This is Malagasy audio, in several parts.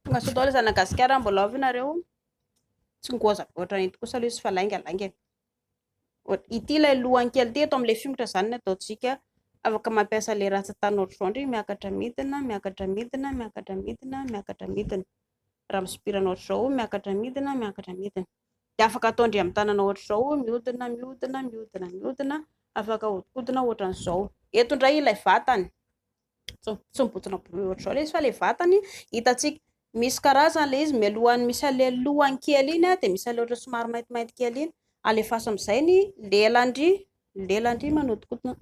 Tongasoa daholo izany Madagasikara mbola avy nareo tsy ngoza goatra ito kosa aloha izy fa lainga lainga e. ity ilay lohany kely ity eto amin'ilay fingotra izany no ataontsika afaka mampiasa ilay ratsatany ohatr'izao miakatra midina miakatra midina miakatra midina miakatra midina raha misopirana ohatr'izao miakatra midina miakatra midina Dia afaka atao ndry amin'ny tanana ohatra izao hoe mihodina, mihodina, mihodina, mihodina, afaka ahodikodina ohatra an'izao. Eto indray ilay vatany, tsy mibontsina bory ohatra izao ilay izy fa ilay vatany hitantsika. Misy karazany ilay izy, mialohan'ny misy an'ilay lohany kely iny dia misy an'ilay ohatra somary maintimainty kely iny, alefaso amin'izay ny lelan-dry, ny lelan-dry manodikodina.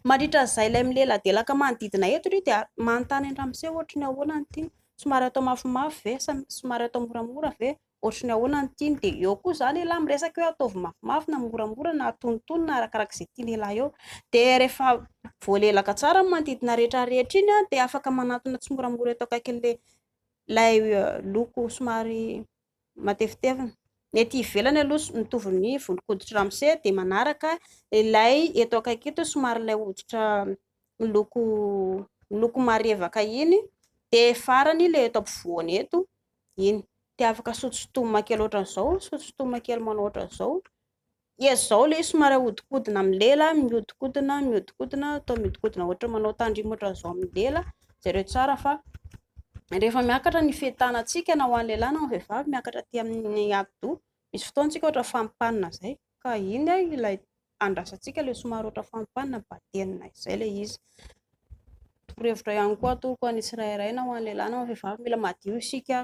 Mandritra izay ilay mileladelaka manodidina eto ry dia manontany an'i Ramose ohatry ny ahoana ny tiany, somary atao mafimafy ve sa somary atao moramora ve, ohatry ny ahoana ny tiany dia eo koa izany elah miresaka hoe ataovy mafimafy na moramora na atonitony na arakaraka izay tiany elah eo dia rehefa voalelaka tsara ny manodidina rehetra rehetra iny dia afaka manatona tsimoramora eto akaikin'ilay ilay loko somary matevitevina. Ny ety ivelany aloha mitovy ny volon-koditry ramose dia manaraka ilay eto akaiky eto somary ilay hoditra miloko miloko marevaka iny dia farany ilay eto ampovoany eto iny dia afaka sotosotomina kely ohatran'izao sotosotomina kely manao ohatran'izao Dia zao ilay somary ahodikodina amin'ny lela, mihodikodina, mihodikodina, atao mihodikodina ohatran'ny manao tandrimo ohatran'izao amin'ny lela, jereo tsara fa rehefa miakatra ny fehin-tanantsika na ho an'ny lehilahy na ho an'ny vehivavy, miakatra aty amin'ny atidoha, misy fotoana isika ohatra fampanina izay, ka iny ilay andrasantsika ilay somary ohatra fampanina, batenina izay ilay izy. Torohevitra ihany koa atolotro ho an'ny tsirairay na ho an'ny lehilahy na ho an'ny vehivavy, mila madio isika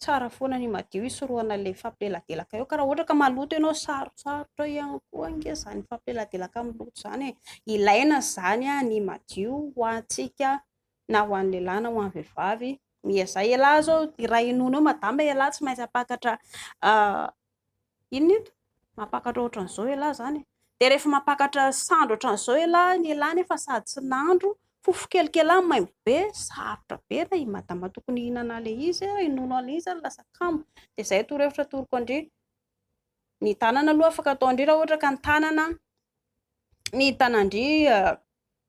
Tsara foana ny madio hisorohana ilay fampileladelaka eo ka raha ohatra ka maloto ianao sarotsarotra ihany koa ange izany fampileladelaka amin'ny loto izany e. Ilaina izany ny madio ho antsika na ho an'ny lehilahy na ho an'ny vehivavy. Miezaha ialahy izao, raha henoina eo madama ialahy tsy maintsy hampakatra Inona eto? Mampakatra ohatran'izao elah zany e. Dia rehefa mampakatra sandry ohatran'izao elah ny elah nefa sady tsy nandro, fofokelika elah maimbo be, sarotra be raha i madama tokony hihinana an'ilay izy, hinono an'ilay izy ary lasa kamo. Dia izay torohevitra atoroko an-dry. Ny tanana aloha afaka ataon-dry raha ohatra ka ny tanana, ny tanan-dry.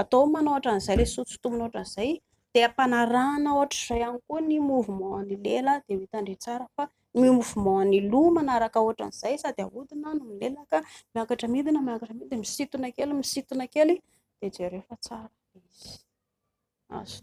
atao manao ohatran'izay le soa tsy tombina ohatran'izay de ampanarahana ohatr'izay ihany koa ny mouvement ny lela de ho hitandre tsara fa ny mouvement ny loha manaraka ohatran'izay sady ahodina no milelaka miakatra midina miakatra midina de misintona kely misintona kely de jereo fa tsara izy azo